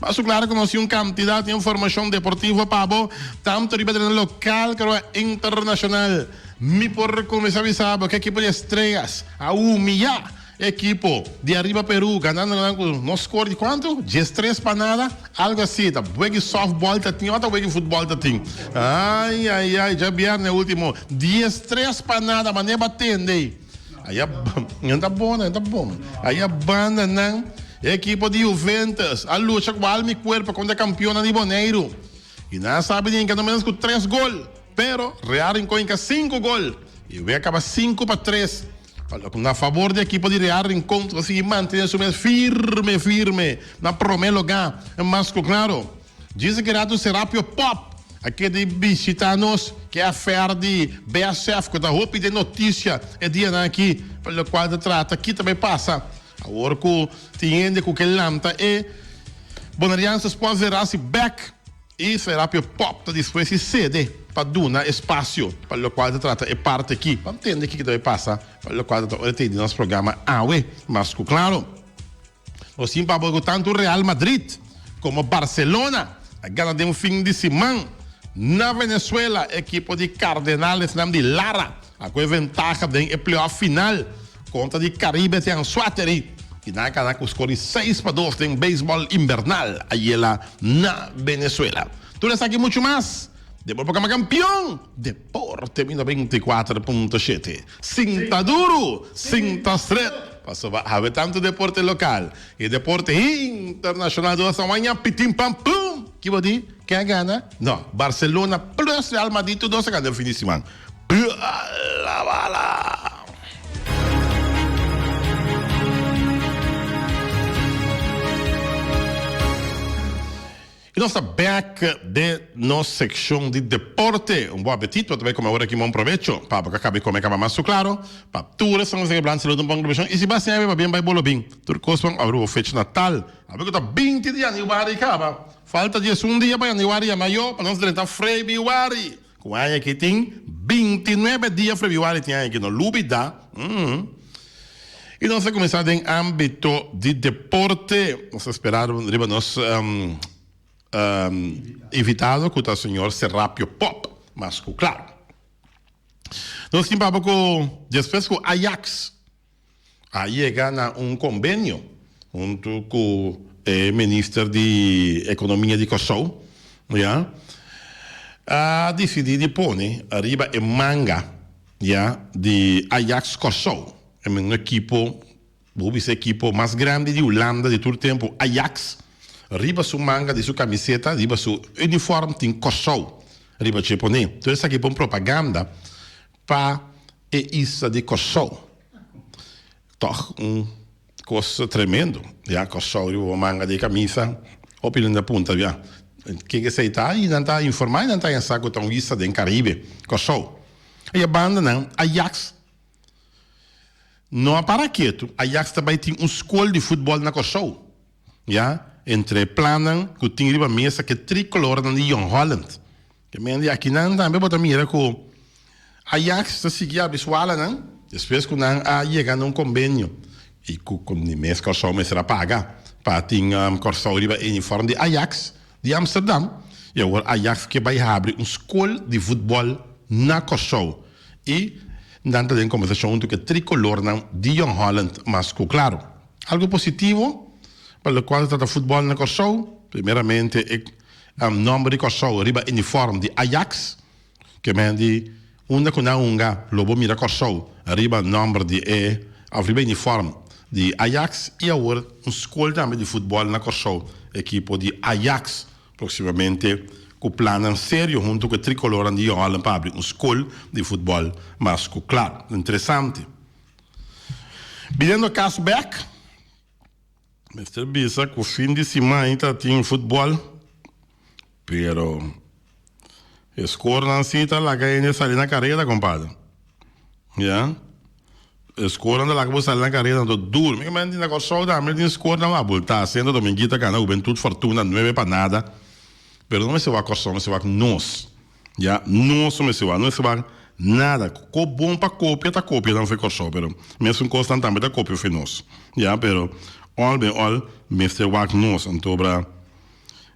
Mas su klar ku nos tin un kantidad di informashon deportivo pa bo, tantu riba tereno lokal karoba internashonal. Mi por kuminsá bisa bo ku e ekipo di Estrellas a humiyá e ekipo di ariba Perú, ganando nan ku nos skor di kuantu? Dies tres pa nada, algu asi. Ta weg'i sòftbòl ta tin o ta weg'i futbòl ta tin? Ai, ai, ai, djabièrnè último, dies tres pa nada, manera bo a tende. Ai a banda nan, e ekipo di Juventus a lucha ku al mi kuerpo kontra kampionnan di Boneiru i nan a sabi di hinka no ménos ku tres gol, pero Real Rincon hinka sinku gol i e wek a kaba sinku pa tres pa lo ku na fabor di ekipo di Real Rincon ta sigui mantene su mes firme firme na promé lugá. Mas ku klaro. Djis Gerardo Serapio Pop a keda i bishita nos, ke affair di BSF ku ta hopi den notisia e dianan aki, pa lokual ta trata kita bai pasa. Awor ku tin hende ku ke lanta e Bonariansers por vera si bek i Serapio Pop ta dispues i sede pa duna espasio pa lokual ta trata e parti aki, pa ntende kiko ta bai pasa, pa lokual ta ora te di nos programa awe mas ku klaro. Nos tin papel cu tanto Real Madrid como Barcelona a gana den un fin di siman. Na Venezuela e ekipo di Cardenalesnan di Lara a coge ventaha den e playoff final contra di Caribe di Anzoaterry y nan a gana cu score di seis pa dos den Baseball Invernal ayera na Venezuela. Tur esaki y mucho mas den Bo por Cama Campeon, Deporte Mino beinticuater punto shete. Sin ta duru, sin ta stret. Pasoba haber tantu deporte local y deporte internacional dor San Juan ya pitin pan pum! Kibo di ken a gana? No, Barcelona plus Real Madrid tur dos a gana den fin di siman. Bala bala! I nos ta bek den nos sekshon di deporte. Un bon apetit pa ta bai kome awor aki, ma un provecho pa bo ka kaba e kome kaba mas. Su klaro, pa tur esnan ku ta siga blanta salud un bon globashon i si bo a siña pabia bai bolo bin. Tur kosnan a rubo fech natal. Abi ku ta binti di yandiwari kaba. Falta diesun dia pa yandiwari ya mayo pa nos drenta freibiwari. Ku aña aki tin binti nuebe dia Frebiwari tin aña aki no lubidá umm i nos a kuminsá den ámbito di deporte nos a sperá riba nos invitado ku ta señor Serapio Pop mas ku klaro nos tin papá ku despues ku Ajax a yega na un kombenio huntu ku e minister di ekonomia di Kòrsou, ya, a disidí di pone ariba e manga, ya, di Ajax Kòrsou, e mesmu ekipo, bo hopi se ekipo mas grandi di Hulanda di tur tempu, Ajax, riba su manga di su kamiseta, riba su unifòrm tin Kòrsou riba dje poné. Tur esaki por un propaganda pa e isla di Kòrsou. Tòg un kos tremendo, ya. Kòrsou riba bo manga di kamisa. Hopi nan ta punta biá, Ke ku esei ta? I nan ta informá i nan ta haña sa ku ta un isla den Karibe, Kòrsou. I e banda nan, Ayaks no a para ketu. Ayaks ta bai tin un skol di futbòl na Kòrsou, ya. Entre e plannan ku tin riba mesa, ke tri kolornan di Jong Holland, E men di akinan tambe bo ta mira ku Ajax ta sigui abi su alanan despues ku nan a yega na un kombenio i ku kon e mes Kòrsou mester a paga pa tin Kòrsou riba e uniform di Ajax di Amsterdam i awor Ajax ke bai habri un skol di futbòl na Kòrsou i nan ta den konversashon huntu ku e trikolornan di Jong Holland mas ku klaru algu positivo pa loke ku a trata futbòl na Kòrsou primeramente e Nomber di Kòrsou riba uniform di Ajax, ke men di unda ku nan hunga lo bo mira Kòrsou riba nomber di e òf riba uniform di Ajax i awor un skol tambe di futbòl na Kòrsou. Ekipo di Ajax proksimamente ku plannan serio huntu ku e Trikoloran di Jongholland pa abri un skol di futbòl mas ku klar interesante. Biniendo a kas bèk. Mester bisa cu fin di simai ta tin futbol, pero e scorenan si ta laga hende sali na carera, compadre. Ya. E scorenan ta laga bo sali na carera, anto duro. Mi caminda tin na Corsou tambe, tin score na Abulta, Centro Dominguita gana Hubentut Fortuna nuebe pa nada, pero no mester wak Corsou, mester wak nos. Ya nos no mester wak, no mester wak nada. Ko bon pa kopia ta kopia nan for e Kòrsou, pero mesun kosnan tambe ta kopia for nos. Ya, pero òl den òl mester wak nos. Anto obra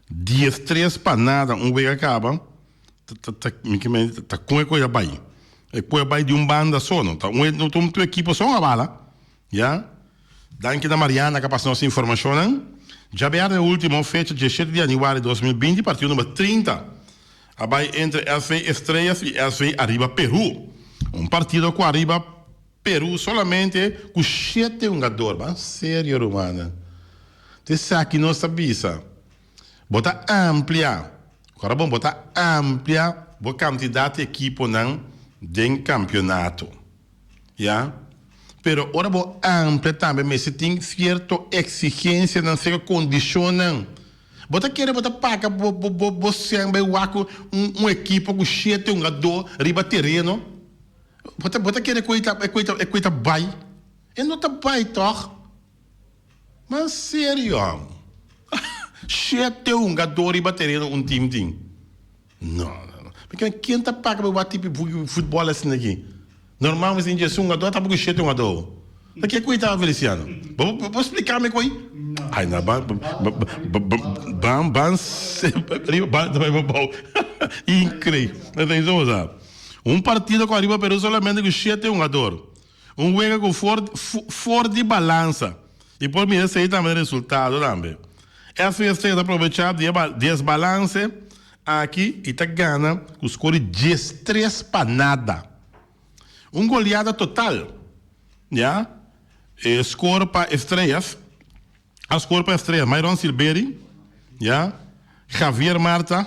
dies tres pa nada un wek a kaba ta mi ke mei ta kon e kos a bai. E kos a bai di un banda so, no ta un, no ta un tur ekipo so a bala, Ya. Danki na Mariana ca pas nos informacionnan. Djabear den ultimo fecha diesshete di januari dos mil binti partido number trinta a bay entre SV Estrellas y SV Arriba Peru. Un partido cu Arriba Peru solamente cu shete hungador. Ban serio rumannan. Ta esaki nos ta bisa. Bo ta amplia, Corabon, bo ta amplia bo cantidad di ekiponan den campeonato. Ya. Pero ora bo amplia tambe mester tin cierto exigencianan, seco condicionnan. Bo ta kere bo ta paga bo bo bo bo shen bay wak cu un un ekipo cu shete hungadó riba tereno? Bo ta bo ta kere cu ey ta cu ey ta cu ey ta bay? Ey no ta bay toch? Man serio, shete hungadó riba tereno un team tin. No no no. Mi kila ken ta paga pa wak tipi futbol asina aki? Normal mi sin dje su un ado ata bo ku shete un ado. Na ke ku ei taba Feliciano? Bo splika mi ku ei? Ai na ba ban ban semper ariba ba ta bai babou. Increib. Atenshon sa. Un partido ku ariba Peru solamente ku shete hungador. Un wega cu for for di balansa y por mira esey tambe resultado tambe. FST ta probecha di e desbalance aki y ta gana cu score di dies tres pa nada. Un goleada total ya. E score pa Estrellas a score pa Estrellas Myron Silberi ya Javier Marta.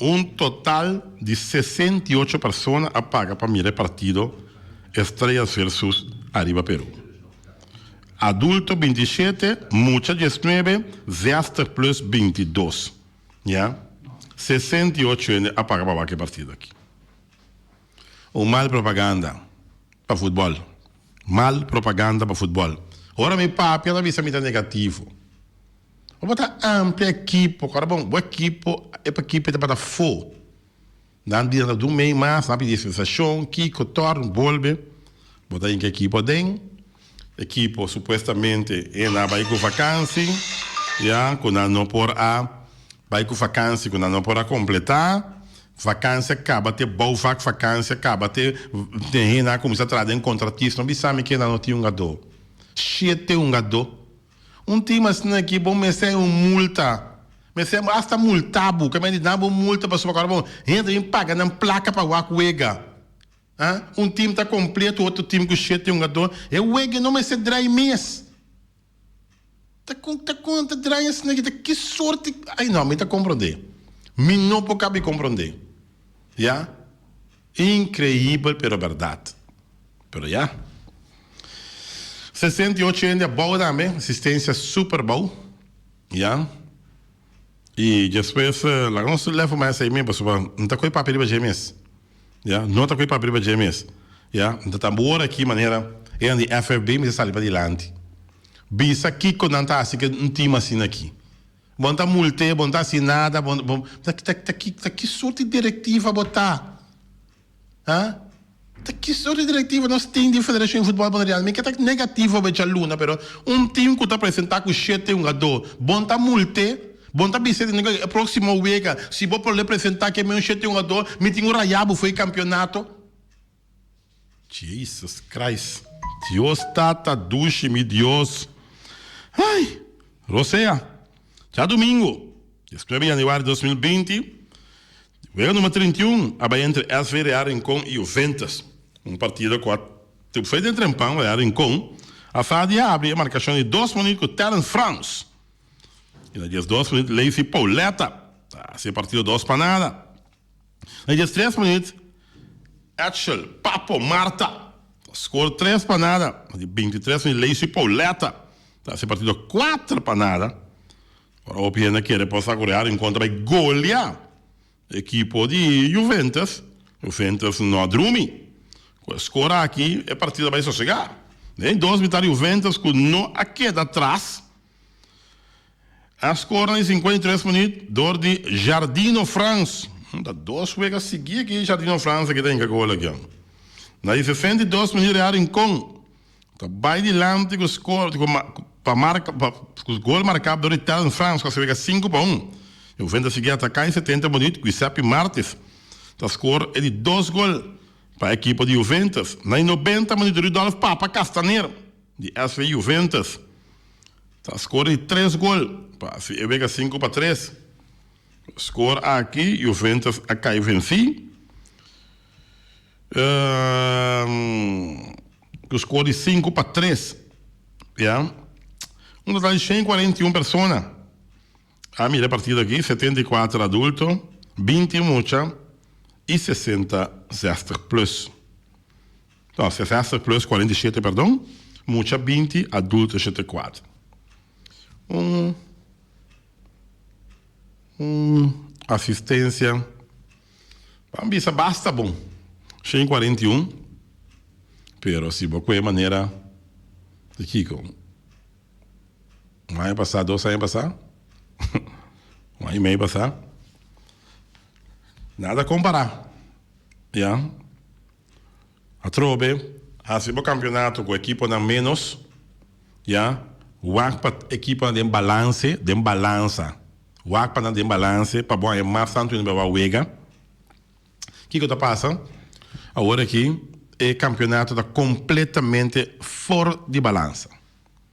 Un total di sesenta i ocho persona a paga pa mira e partido Estrellas versus Arriba Peru. Adulto binti i shete, mucha dies nuebe, zèster plus binti i dos. Ya. Sesenta i ocho hende a paga pa wak e partido aki. Un mal propaganda pa futbòl. Mal propaganda pa futbòl. Ora mi papia ta bisa mi ta negativo. Bo por ta amplia e kipo, kor a bon bo e kipo e pa kipe ta bata fo. Nan di nan ta dun mei mas, nan pidi sensashon, kiko, torn, bolbe. Bo ta hinka e kipo aden, e kipo supuestamente e na bai ku vakansi, ya, ku nan no por a bai ku vakansi, ku nan no por a kompletá. Vakansi a kaba te bou vak, vakansi a kaba te te hena a kuminsá tra den kontratismo, bisa mi ke nan no tin hungadó. Shete hungadó. Un tin mas esnan aki bo mester un multa, mester bo hasta multa bo, kamba di dabo un multa pasobra ku awe bo hende ta bin paga nan plaka pa wak wega, a un tim ta kompleto otro tim ku shete hungadó, e wega no mester drai mes, ta kon ta kon ta drai esnan aki ta ki sorti ai no mi ta komprondé, mi no por kabi komprondé, ya. Increibel pero berdad. Pero ya. Sesenta i ocho hende abou tambe, asistencia super bou. Ya. Y despues laga nos telefono mas esei mes pasobra no ta coge papia riba dje mes. Ya. No ta coge papia riba dje mes. Ya. Mi ta tambe ora aki manera eran di FFB mi ta sali pa dilanti. Bisa kico nan ta haci cu un team asina aki. Bo no ta multé, bo no ta haci nada, bo no, ta ta ta ki ta ki soort di directiva bo ta? Ha? Ta ki soort di directiva nos tin di Federacion di Futbol Boneriano? Mi ke ta negativo becha luna, pero un team cu ta presenta cu shete hungadó, bo no ta multé? Bo no ta bisé di nunca e proximo wega si bo por ley presenta ke mi un shete hungadó, mi tin cu rayá bo fo'i campeonato? Jesus Christ Dios tata dushi mi Dios ay Rosea dja domingo dies nuebe januari dos mil binti di wega numer trinta i un a bay entre SV Real Rincon y Juventus un partido cua te fue den trempan Real Rincon a sa di a abri e marcacion di dos minut cu Terrence Frans y na dies dos minut Leisy Pauleta ta haci e partido dos pa nada. Na dje tres minut Etchel, Papo, Marta ta skor tres panada. Na di bintitres minut Lacy Pauletta ta hasi partido kuater panada. Ora hopi hende a kere por sa ku Real in kontra bai golia e ekipo di Juventus, Juventus no a drumi. Ku e skor aki e partido a bai sosega. Den dos mitad Juventus ku no a keda atras. A skor nan di sinkùenta i tres minüt dor di Jardino Frans. Ta dos wega sigui aki Jardino Frans a kita hinka gol aki. Na di sesenta i dos minüt Real Rincon ta bai dilanti ku skor pa marka ku gol marká dor di Telm Frans ku a wega sinku pa un. Heuvens ta sigui ataká i setenta minüt Guisepi Martis ta skor e di dos gol pa ekipo di Heuvens. Na di nobenta minüt Rudolf Papa Castaner di SV Heuvens. Ta skor di tres gol pa hasi e wega sinku pa tres. Ku skor aki Juventus a kai vensí. Ku skor di sinku pa tres ya. Un total di shen kuarenta i un persona a mira e partido aki, setenta i kuater adulto, binti mucha i sesenta zestig plus. No, sesèster plus kuarenta i shete, perdon, mucha binti, adulto shete kuat. Un un asistensia pa mi bisa basta bon, shen i kuarenta i un, pero si bo kohe manera di kiko un aña pasá, dos aña pasá, un aña i mei pasá, nada kompará, ya. Atrobe, hasi bo kampionato ku ekiponan ménos, ya. Wak pa ekiponan den balanse, den balansa. Wak pa nan den balanse pa bo haña mas tantu inda bo bai wega. Kiko ta pasa? Awor aki e kampionato ta kompletamente for di balansa.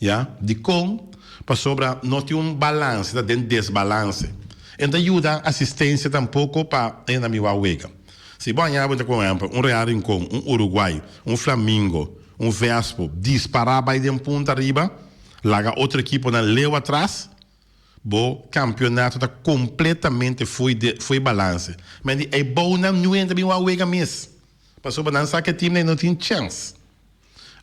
Ya. Dikon? Pasobra no tin un balanse ta den desbalanse. E no ta yuda asistensia tampoko pa e na miwa wega. Si bo haña cuenta cu un ehempel, un Real Rincon, un Uruguay, un Flamingo, un Vespo dispará bai den punta riba, laga otro ekiponan leu atras, bo campeonato ta completamente foe de foe balanse. Mende ei bounan nu entra miwa wega mes. Pasobra nan sa cu e teamnan ei no tin chance.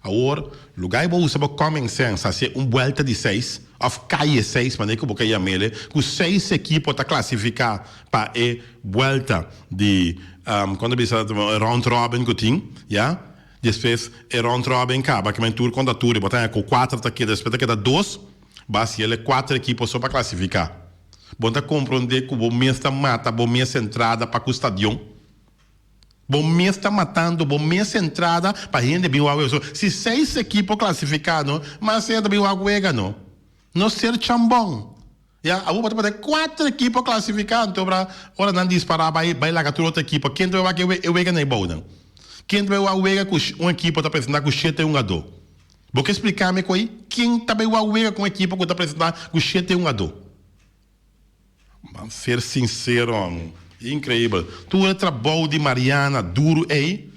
Awor, lugá ei bo usa bo common sense hasié un buelta di seis of caye seis, manera cu bo ka yamele cu seis equipo ta clasificá pa e buelta di, con ta bisa, e round robin cu tin, ya. Despues e round robin caba, kiman tur conta tur, y bo ta haña cu cuater ta keda, despues ta keda dos, bo hasiel e cuater equipo so pa clasificá. Bo ta comprendé cu bo mes ta mata bo mes entrada pa cu stadion. Bo mes ta matando bo mes entrada pa hende bin wak wega. So si seis ekipo klasifiká no, mas hende bin wak wega no. No ser chambon. Ya, abo bo ta pone kuater ekipo klasifiká anto a bra ora nan dispará bai bai laga tur otro ekipo. Ken ta bai wak e wega na e bounan? Ken ta bai wak wega ku un ekipo ta presentá ku shete a un a do? Bo ke spliká mi ko'i? Ken ta bai wak wega ku un ekipo ku ta presentá ku shete a un a do? Ban ser sincero amo. Increíbel. Tur e trabou di Mariana duro ey,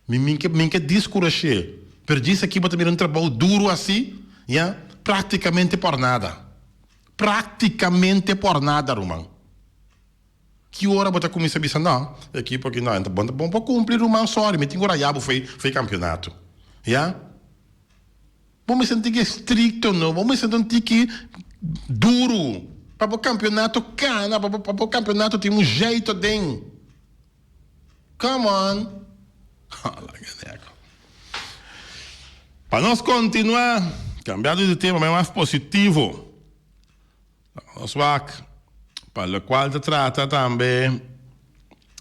mi min ke min ke discurashé, pero djis aki bo ta mira un trabou duro así, ya, practicamente por nada. Practicamente por nada ruman. Ki ora bo ta cuminsa bisa no, e equipo aki no, bo no por cumpli ruman, sorry, mi tin cu raya bo fo'i fo'i campeonato. Ya. Bo mester tin ke strikto no, bo mester tin tiki duru pa bo kampionato kana, pa bo kampionato tin un jeito den. Come on! Hala keneko. Pa nos kontinuá, kambiando di tema, mas positivo, Nos wak pa locual ta trata tambe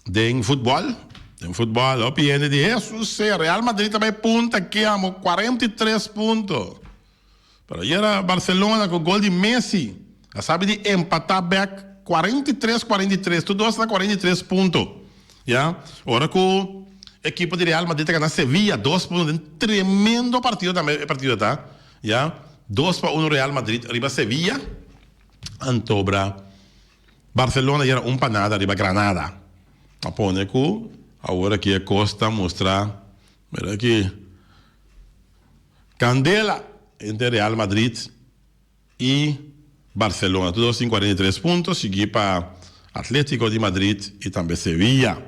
den futbol. Den futbol hopi hende di Jesus sey Real Madrid ta bay punta ke amo cuarenta y tres punto. Pero ayera Barcelona cu gol di Messi a sabi di empata bek cuarenta y tres cuarenta y tres. Tur dos na cuarenta y tres punto ya. Ora cu ekipo di Real Madrid ta gana Sevilla dos por uno den tremendo partido tambe e partido ta. Ya dos pa uno Real Madrid riba Sevilla Antobra Barcelona yera un pa nada riba Granada a pone cu awor aki e cos ta mustra mira aki candela entre Real Madrid y Barcelona tur dos tin cuarenta y tres punto sigui pa Atletico di Madrid y tambe Sevilla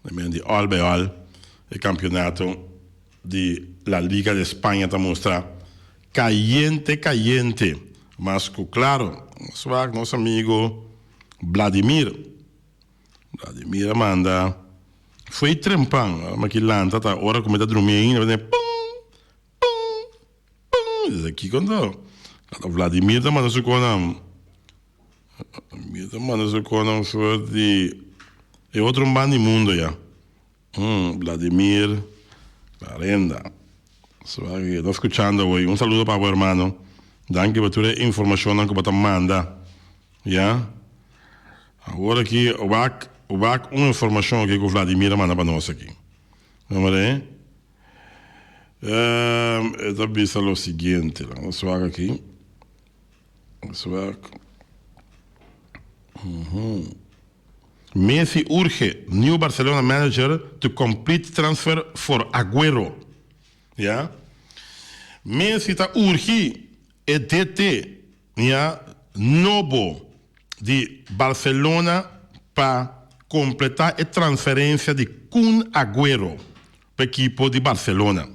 na men di Albeol e campeonato di La Liga de Spaña ta mustra kayente kayente, mas ku klaro nos wak nos amigu Bladimir. Bladimir a manda fo'i trempan, ora Maki lanta ta ora ku mi ta drumi ainda, mi ta biba pum! Pum! Pum! Mi ta bisa, Kiko ta? Kato Bladimir ta manda su konan. Bladimir ta manda su konan for di e otro man di mundo ya. Hm Vladimir Barenda su aki ke ta skuchando hoy un saludo pa bo hermano danki pa tur e informashonnan ku bo ta manda ya awor aki wak wak un informashon aki ku Vladimir a manda pa nos aki nomber e e ta bisa lo siguiente laga nos wak aki. Swak. Messi urge new Barcelona manager to complete transfer for Aguero. Ya. Messi ta urgi e DT, ya, nobo di Barcelona pa completa e transferencia di Kun Aguero pa ekipo di Barcelona.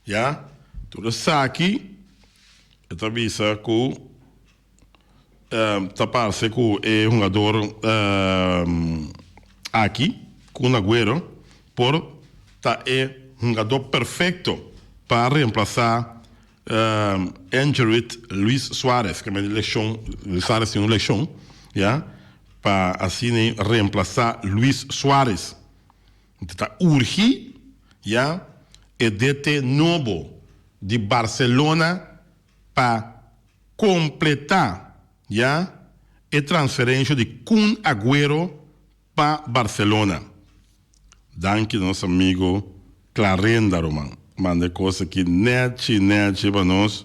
Ya. Tur esaki e ta bisa ku ta parse ku e hungador aki, Kun Aguero, por ta e hungadó perfekto pa remplasá injured Luis Suarez, ke mester leshon, Luis Suarez tin un leshon, ya, pa asina remplasá Luis Suarez. Nta ta urgi ya e DT nobo di Barcelona pa completá ya e transferencio di Kun Agüero pa Barcelona. Danki nos amigo Clarenda Roman, manda e cos aki nechi nechi pa nos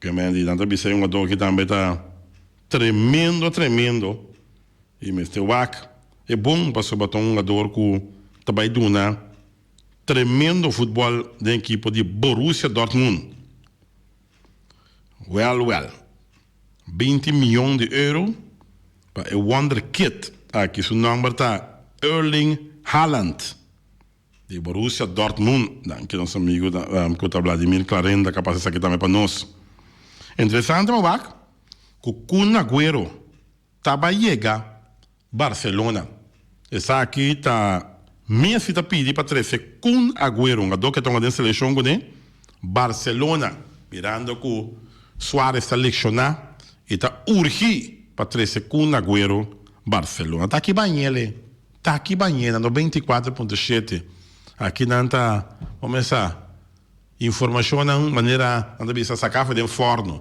Ke Mandy nan ta bisa e hungadó ki tambe ta tremendo tremendo i mester wak. E bon pasobra ta un hungador ku ta bai duna tremendo futbòl den ekipo di Borussia Dortmund. Wèl wèl, binti mion di euro pa e wonderkid aki. Su nòmber ta Erling Haaland. Di Borussia Dortmund, danki nos amigu ku ta Vladimir Klarenda ka pasa esaki tambe pa nos. Interesante pa wak ku Kun Aguero taba yega Barcelona. Esaki ta Messi ta pidi pa trese Kun Aguero, un gadó ke tonga den selekshon kuné Barcelona. Mirando ku Suarez ta lekshoná e ta urgí pa trese Kun Aguero Barcelona. Ta aki baña el e. Taki mañena no binti kuater punto shete aki nan ta komensá informashonnan manera nan ta bisa saká for den fòrno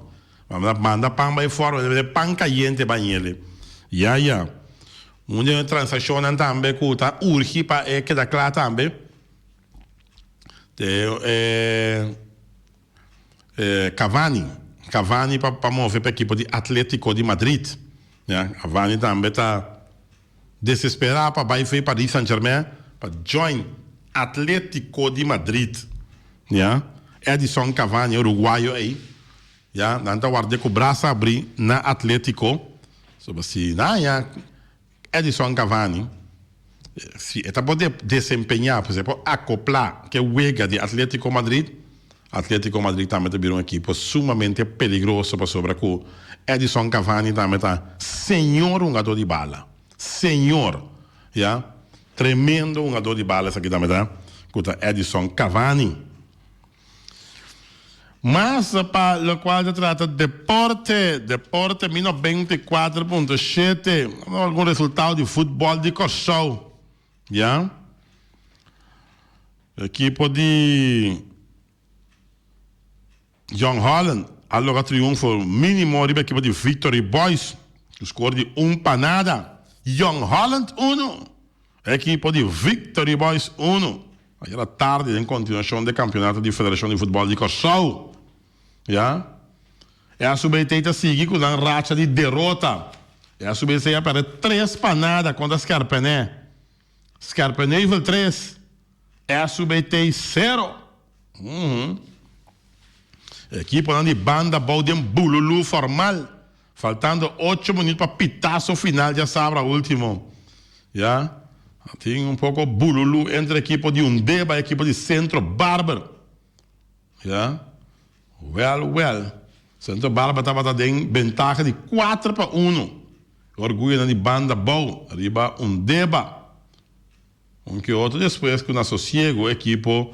nan a manda pan bai fòrno nan a mete pan kayente bai nele ya ya un den e transakshonnan tambe ku ta urgi pa e keda kla tambe te e. Cavani, Cavani pa move pa ekipo di Atletico di Madrid. Cavani tambe ta desespera pa bai for e Paris Saint-Germain pa join Atletico di Madrid. Edison Cavani uruguayo ey nan ta warde cu brasa abri na Atletico. Asina. Edinson Cavani, si e ta por desempeñá, pues e por akoplá ku e wega di Atlético Madrid. Atlético Madrid tambe ta bira un ekipo sumamente peligroso pasobra ku Edinson Cavani tambe ta señor hungadó di bala. Señor! Ya. Tremendo hungadó di bala esaki tambe ta, ku ta Edinson Cavani. Mas pa locual ta trata deporte, deporte mi no beinti cuatro punto shete, no algun resultado di futbol di Corsou, ya. Ekipo di Jong Holland a loga triunfo minimo riba ekipo di Victory Boys, ku skor di un pa nada. Jong Holland uno. E ekipo di Victory Boys unu ayera e tardi den kontinuashon de kampionato di Federashon di Futbòl di Kòrsou. Ya e a su bay tey ta sigui ku nan racha di derota. E a su bay esei a pèrdè tres pa nada kontra Skerpené. Skerpenheuvel tres, e a su bay tey sero. E ekiponan di banda bou den bululú formal. Faltando ocho minut pa pitaso final dja sabra ultimo ya a tin un poco bululu entre ekipo di Undeba y ekipo di Centro Barber ya wel wel Centro Barber tabata den bentaha di cuatro pa uno e orguyonan di banda bou riba Undeba un ke otro despues cu na sosiego ekipo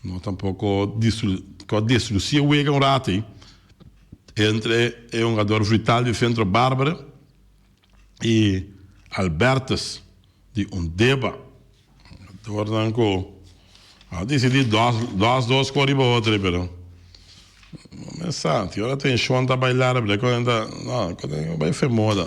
No tampoco cua destruci e wega un rato ey entre e hungador vital di Centro Barbara y Albertus di Undeba. Hungadornan cu a dicidi dos dos dos cu riba otro ey pero no me sa, si ora tension ta bay lar ey bai femoda.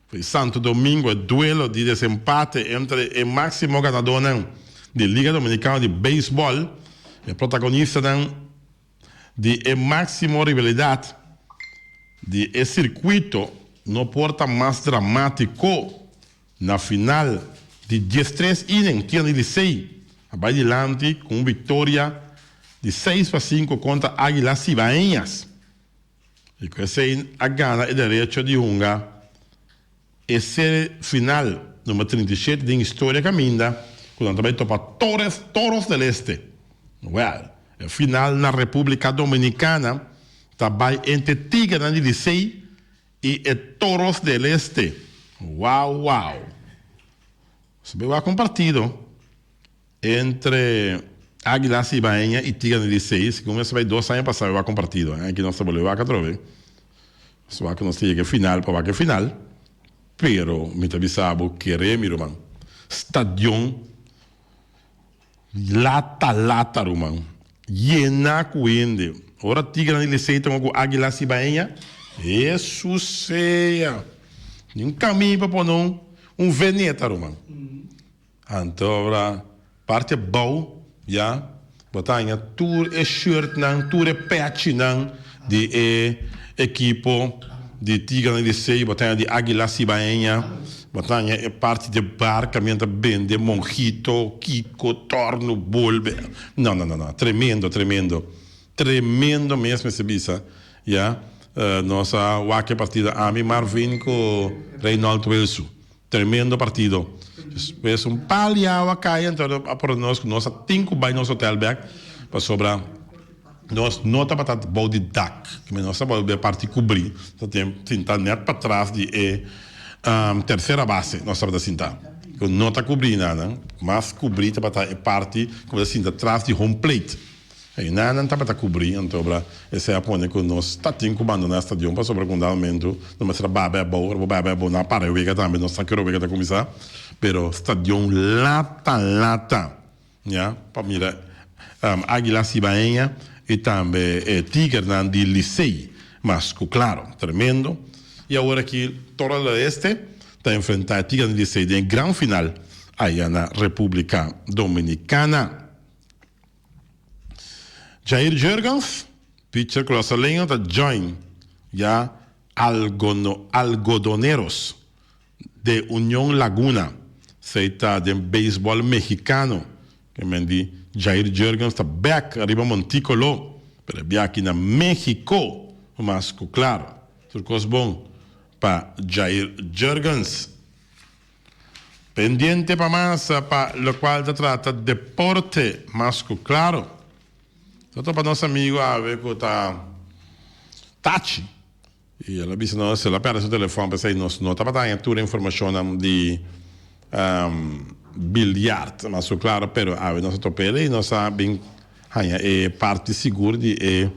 Di Santo Domingo e duelo di desempate entre e máximo ganadónan di Liga Dominicano di Beisbòl, e protagonistanan di e máximo rivalidad di e circuito, no por ta mas dramático. Na final di diestres inning, Tignan di Licey a bai dilanti cu un victoria di seis pa sinku contra Águilas Cibaeñas. E cu esey a gana e derecho di hunga e serie final number trinta y shete den historia caminda cu nan ta bay topa Torres Toros del Este. Well, e final na Republica Dominicana ta bay entre Tigernan di Licey y e Toros del Este. Wow wow! Su bay wak un partido. Entre Águilas Ibaeña y Tigana di Seis, segun mester bay dos aña pasado wak un partido. Aña aki nos ta bolbe wak atrobe. Nos wak nos ta yega final pa wak e final. Pero mi ta bisa bo kere mi ruman. Stadion lata lata ruman. Yena cu hende. Ora Tigana di Licey ta jugá cu Águilas Ibaeña, Hesus sea! Ni un cami pa pone un veneta ruman. Anto ora parti abou ya bo ta haña tur e shirtnan, tur e pechinan di e ekipo di Tigra di Licey, bo ta haña di Aguila Cibaeña, bo ta haña e parti di bar ka mi a ta bende monjito, kiko, torno, bolbe, no no no tremendo tremendo tremendo mes mester bisa ya nos a wak e partida ami Marvin ku Reynold Wilsu Tremendo partido. Despues un pal di awa a cay enton a por nos cu nos a tin cu bay nos hotel bek pasobra nos no tabatat bou di dak. Dime nos a bolbe a parti cubri ta sinta net patras di e tercera base nos tabata sinta cu no ta cubri nada. Mas cubri tabata e parti cu bo ta sinta tras di home plate. Ei na nan tabata kubrí, anto obra esei a pone ku nos ta tin ku bandoná stadion pasobra ku unda momentu no mester a baba e abou, ora bo baba e abou nan a para e wega tambe, no sa ki ora e wega ta kuminsá, pero stadion lata lata ña pa mira Águila Cibaeña i tambe e Tigernan di Licey mas ku Klaro, tremendo i awor aki Torre del Oeste ta enfrentá e Tigernan di Licey den e gran final aya na Repúblika Dominikana. Jair Jurgens, Pitcher ku lasa lenga ta join ya Algodoneros de Union Laguna. Esei ta den beisbòl mehikano. Ke men di Jair Jurgens ta bèk ariba Montico lo, pero e biaha aki na Mehiko lo mas ku klar. Tur kos bon pa Jair Jurgens. Pendiente pa masa pa locual ta trata deporte mas cu claro. Ta topa nos amigo awe cu ta tachi y el a bisa nos el a perde su telefon pesey nos no tabata haña tur e informacionnan di biljart mas cu claro pero awe nos a topel y nos a bin Haña e parti sigur di e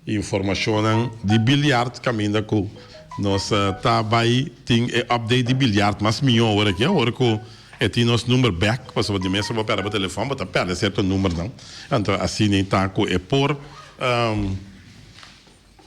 informashonnan di biljart kaminda ku nos ta bai tin e update di biljart mas mihó ora aki. Awor ku e tin nos number bèk, pasobra di mester bo pèrdè bo telefòn, bo ta pèrdè serto numbernan. Anto asina ta ku e por.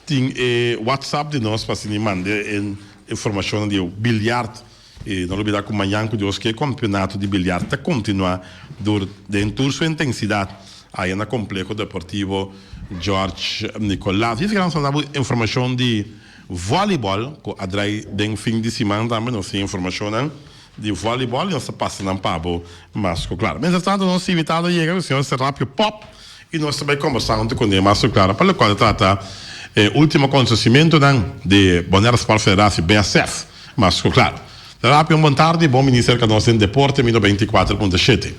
Tin e WhatsApp di nos pa asini manda e informacionnan di e biljart. I no olbida cu mañan cu Dios ke campeonato di biljart ta continua dur den tur su intensidad aya na Compleho Deportivo George Nicolas. Yesey nan sa dabo informacion di volleyball cu a draai den fin di siman tambe. Nos tin e informacionnan di volleyball y nos ta pasa nan pabo mas cu clara. Mientras tanto nos invitado a yega cu señor Serapio Pop. y nos ta bay combersa hunto cu Neymar su clara pa locual ta trata e ultimo acontecimentonan de Bonaire Sport Federatie, BSF, mas cu clara. Rapia un bon tardi y bon bini cerca nos den Deporte mi no bay ticuater punto shete.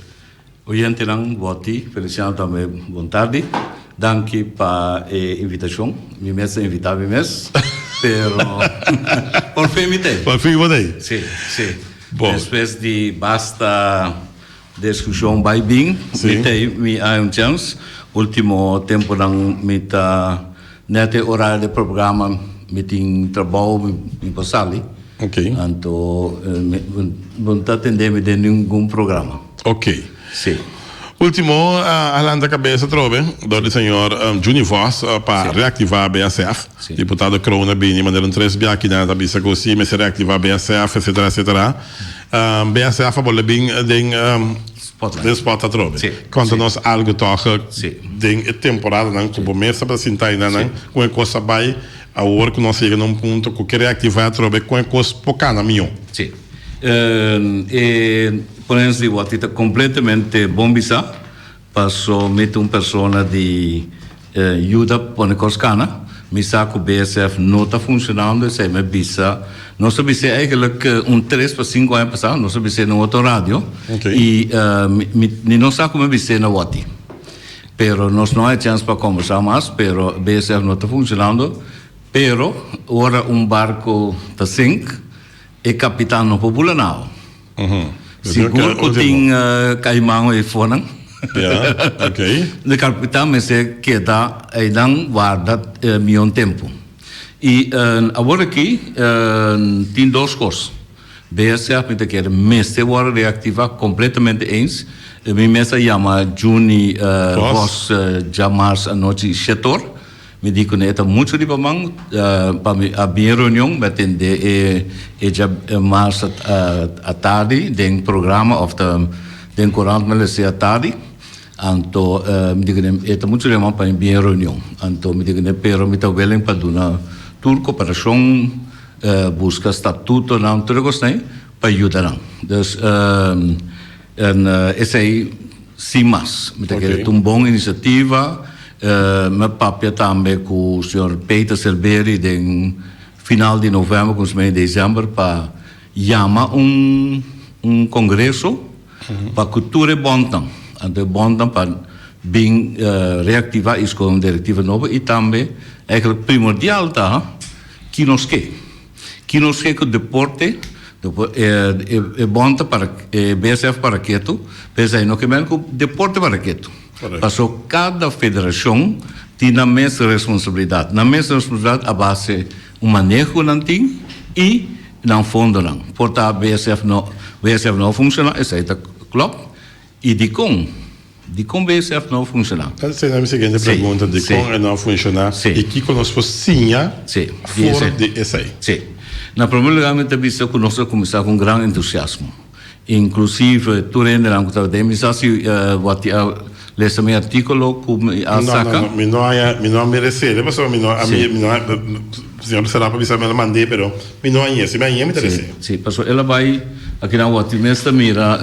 Oyentenan Boti, Feliciano tambe bon tardi. Danki pa e invitacion. Mi mes ta invita mi mes, pero por fin mi ta ey. Por fin bo ta ey. Si, si. Bo. Despues di basta. Diskushon bai bin, mi ta ei mi a un chans. Ultimo temponan mi ta nèt e orario di programa, mi tin trabou, mi por sali. Anto bo no ta atendé mi den ningun programa. Si. Ultimo a lanta kabesa atrobe dor di señor Juny Vos pa reaktivá BSF. Diputado Kroon a bini manera un tres biakinan ta bisa ku si mester reaktivá BSF, etsetera, etsetera. B'e a sera fabor lo bin den spot atrobe. Konta nos algo tòg den e temporadanan ku bo mester presentá ei nan kon e kos ta bai awor ku nos a yega na un punto ku ke reaktivá atrobe kon e kos por kana mihó. Si. E prensa di Wòkti ta kompletamente bon bisá. Paso mi ta un persona di yuda pone cos cana, mi sa cu BSF no ta funcionando, esey mi a bisa, nos a bis'é eigenlijk un tres pa cinco aña pasa, nos a bis'é na un otro radio, y mi mi no sa cu mi a bis'é na wòrti, pero nos no a e chance pa conversa mas, pero BSF no ta funcionando, pero ora un barco ta sink, e capitan no por bula nao. Sigur ku tin kaiman ei fonan. E karpita mester keda einan warda miyon tempu. I awor aki tin dos kos. BSF mi ta kere mester wòrdu reaktiva kompletamente eens. Mi mes a yama Junie Vos dja mars anochi shetor. Mi di kune e ta muchu riba man pa mi a bin reunion mi a tende e e dja mars atardi den programa of ta den kurant mi a lesa e atardi anto mi di kune e ta muchu riba man pa mi bin reunion anto mi di kune pero mi ta willing pa duna tur koperashon buska statutonan tur e kosnan pa yuda nan. En esei si mas. Mi ta kere ta un bon inisiativa. Mi papia tambe ku señor Peter Serbery den final di novèmber kuminso mes di desèmber pa yama un kongreso pa ku tur e bònnan, anto e bònnan pa bin reaktivá i skon direktiva nobo i tambe, eigenlijk primordial ta kinoske. Ki nos ke ku deporte e bon ta para e BSF para ketu, p'esei no ke men ku deporte para ketu. Paso kada federashon tin nan mes responsabilidat. Nan mes responsabilidat a base un maneho ku nan tin i nan fondonan. Por ta BSF no a funshoná, esei ta klòp. I dikon? Dikon BSF no a funshoná? Esa ta mi siguiente pregunta, dikon e no a funshoná i kiko nos por siña for di esei? Sí. Na promé lugá mi ta bisa ku nos a kuminsá ku un gran entusiasmo. Inklusive tur hendenan ku tabata ei, mi sa si bo a lesa mi artíkulo ku mi a saka. No, no, no. Mi no haña, mi no a mires'é, pasobra mi no a, mi no a. Siñor Serrano pa bisa mi el a mand'é pero mi no añ'é, si mi añ'é mi ta dese. Sí, sí, pasobra el a bai a kinan wòrdu, mi mester mira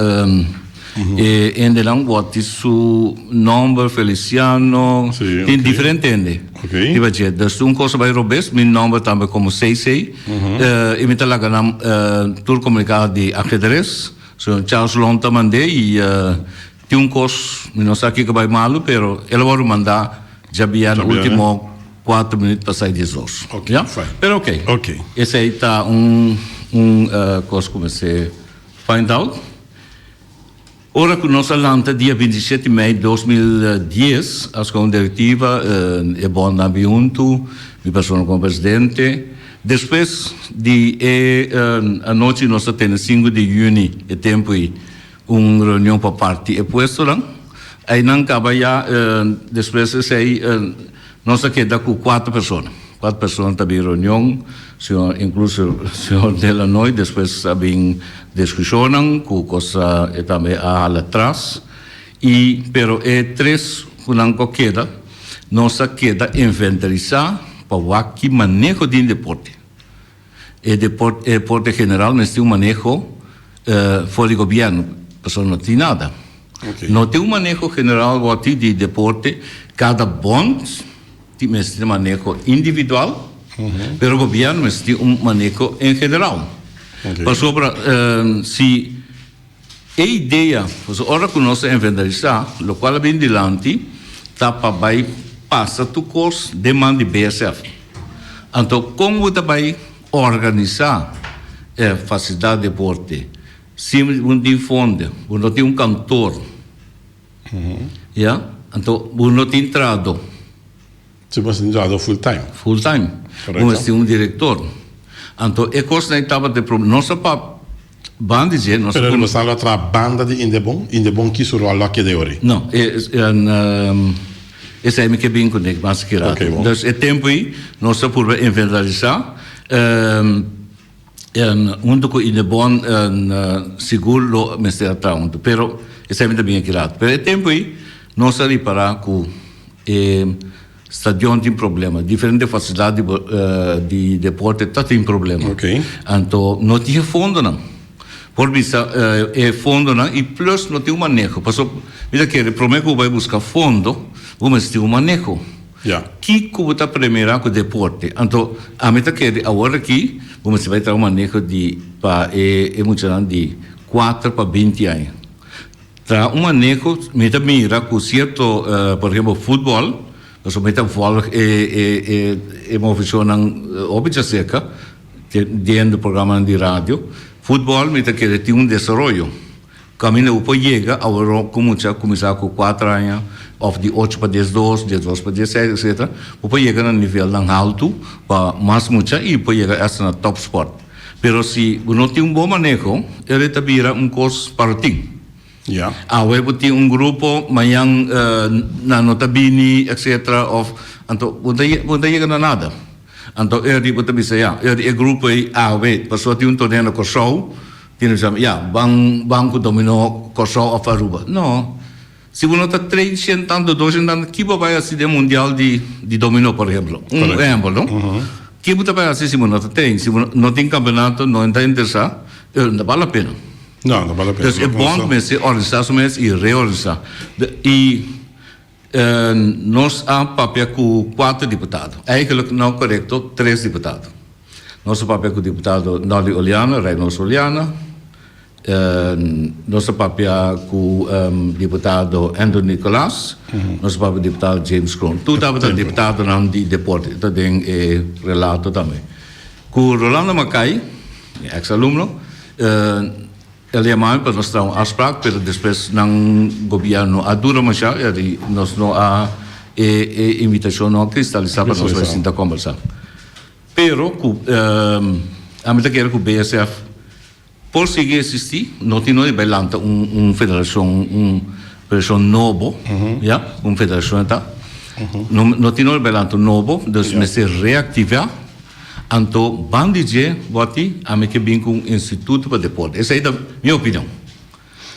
e hendenan wòrdu di su nòmber, Feliciano, Sí, tin ok. diferente hende. Ok. Riba dje, dus ta un kos a bai robes, mi nòmber tambe komo CC, i mi ta laga nan tur komuniká di Ajedrez, so Charles Long ta mand'é i. Tin un kos, mi no sa kiko bai malu, pero el a wòrdu mandá djabiá na último kuater minüt pasá i dies dos. Ya? Pero oké, esei ta un, un kos ku mester find out. Ora ku nos a lanta dia binti shete mei dos mil dies, askó un direktiva, e bònt nan bin huntu, mi persona komo presidente. Despues di e anochi nos a tene sinku di yüni, e tempu ei, Un reunion pa parti e puestonan. Einan kaba ya, despues esei nos a keda ku kuater persona. Kuater persona ta bin reunion, señor, inkluso señor Delanoy. Despues a bin diskushonnan ku kos e tambe a hala tras. I pero e tres ku nan ku a keda, nos a keda inventarisá pa wak ki maneho di deporte E deporte en general mester un maneho for di gobierno pasobra no tin nada. No tin un maneho general worthy di deporte, cada bond tin mester tin maneho individual pero gobierno mester tin un maneho en general pasobra si E idea pa su ora ku nos a inventarisá lokual a bini dilanti ta pa bai pasa tur kos den man di BSF. Anto kon bo ta bai organisá e fasilidat di deporte sin bo no tin fonde, bo no tin un kantor, ya? Anto bo no tin trahadó. Su mas entrada full time. Full time. Bo mester un director. Anto e cos nai tabata e problem. Nos a pap ban di dje. Pero riba esnan lo a traha banda di Indebon? Indebon ki su rol lo a keda yoridad? No. Esai mi ke bin cu Nick mas ki rato. Entonces e tempo ei nos a purba inventariza. En huntu ku Inebon sigur lo mester a traha huntu, pero esei mi ta bin aki rato. Pero e tempu ei nos a ripará ku e stadion tin problema, diferente fasilidat di di deporte ta tin problema. Ok. Anto no tin e fondonan por bisa e fondonan i plus no tin un maneho. Pasobra mi ta kere promé ku bo bai buska fondo bo mester tin un maneho. Kiko bo ta premira ku deporte? Anto ami ta kere awor aki bo mester bai traha maneho di pa e e muchanan di kuater pa binti aña. Traha un maneho, mi ta mira ku sierto por ehempel futbòl, pasobra mi ta vòlg e e e e movishonnan hopi chaseka den den de programanan di radio. Futbòl mi ta kere tin un desaroyo. Camino bo por yega awor cu mucha a cuminsa cu cuatro aña of di ocho pa diesdos, diesdos pa dieseis etcetera, bo por yega na nivelnan halto pa mas mucha y por yega asta na top sport. Pero si bo no tin un bon maneho e rei ta bira un cos para tin. Ya. Awe bo tin un grupo, mayan nan no ta bini etcetera of anto bo no ta bo no ta yega na nada. Anto e rei bo ta bisa ya e rei e grupo ei awe pasobra tin un torneo na Corsou, Tin un esempel, ya, ban ban ku dominó Kòrsou òf Aruba. No. Si bo no ta train shent ant, dodó shent ant, ki bo bai hasi den mundial di di dominó, por ehempel. Un ehempel, no? Ke bo ta bai hasi si bo no ta train? Si bo no tin kampeonato, no ta interesá, pero no ta bal la pena. No, no bal la pena. Entonces e bond mester organisá su mes i reorganisá. I. Nos a papia ku kuater diputado, eigenlijk no korekto tres diputado. Nos a papia ku diputado Nolly Oliana, Reynolds Oliana, nos a papia ku diputado Andrew Nicolas, nos a papia ku diputado James Kroon. Tur tabata diputadonan di deporte, e ta den e relato tambe. Ku Rolando Makay, mi ex alumno. El yama mi pa nos tra un afsprak pero despues nan gobierno a dura masha y ari nos no a e e invitacion no a cristalisá pa nos bai sinta combersa. Pero cu a mi ta kere cu BSF por sigui existi no tin oye bai lanta un un federacion un federacion nobo ya cu un federacion e ta no tin oye bai lanta un nobo nos mester reactivá Anto ban di dje boti ami ke bin ku un instituto pa deporte. Esei ta mi opinion.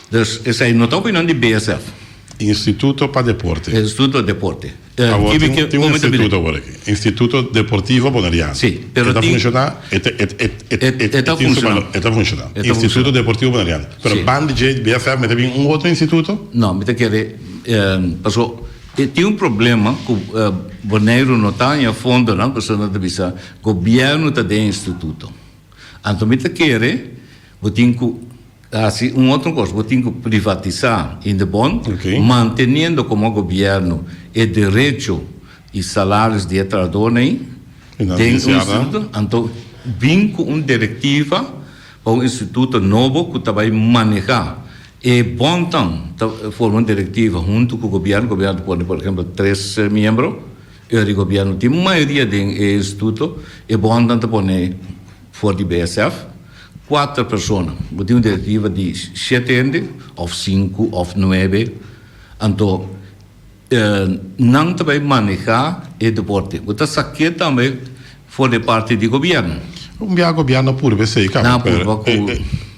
Dus esei no ta opinion di BSF. Instituto pa deporte. Instituto pa deporte. Awor tin tin un instituto awor aki. Instituto deportivo Boneriano. Si, pero tin. E ta funshoná e ta e e e tin su balor. E ta funshoná. Instituto deportivo Boneriano. Pero ban di dje BSF mester bin un otro instituto? No mi ta kere paso. E tin un problema cu Boneiru no ta haña fondonan, pasobra nan ta bisa gobierno ta den e instituto. Anto mi ta kere bo tin cu haci un otro cos, bo tin cu privatisa Indebon, manteniendo como gobierno e derecho y salarios di e trahadornan ayi den un instituto, anto bin cu un directiva pa un instituto nobo cu ta bay maneha. E bontan ta forma un direktiva huntu ku gobièrnu, gobièrnu ta pone por ehempel tres miembro, e ora di gobièrnu tin mayoria den e instituto, e bontan ta pone for di BSF kuater persona, bo tin un direktiva di shete hende òf sinku òf nuebe, anto. Nan ta bay maneha e deporte. Bo ta sa ke tambe for di e parti di gobierno? Un bia gobierno a purba esey ka. Nan a purba cu.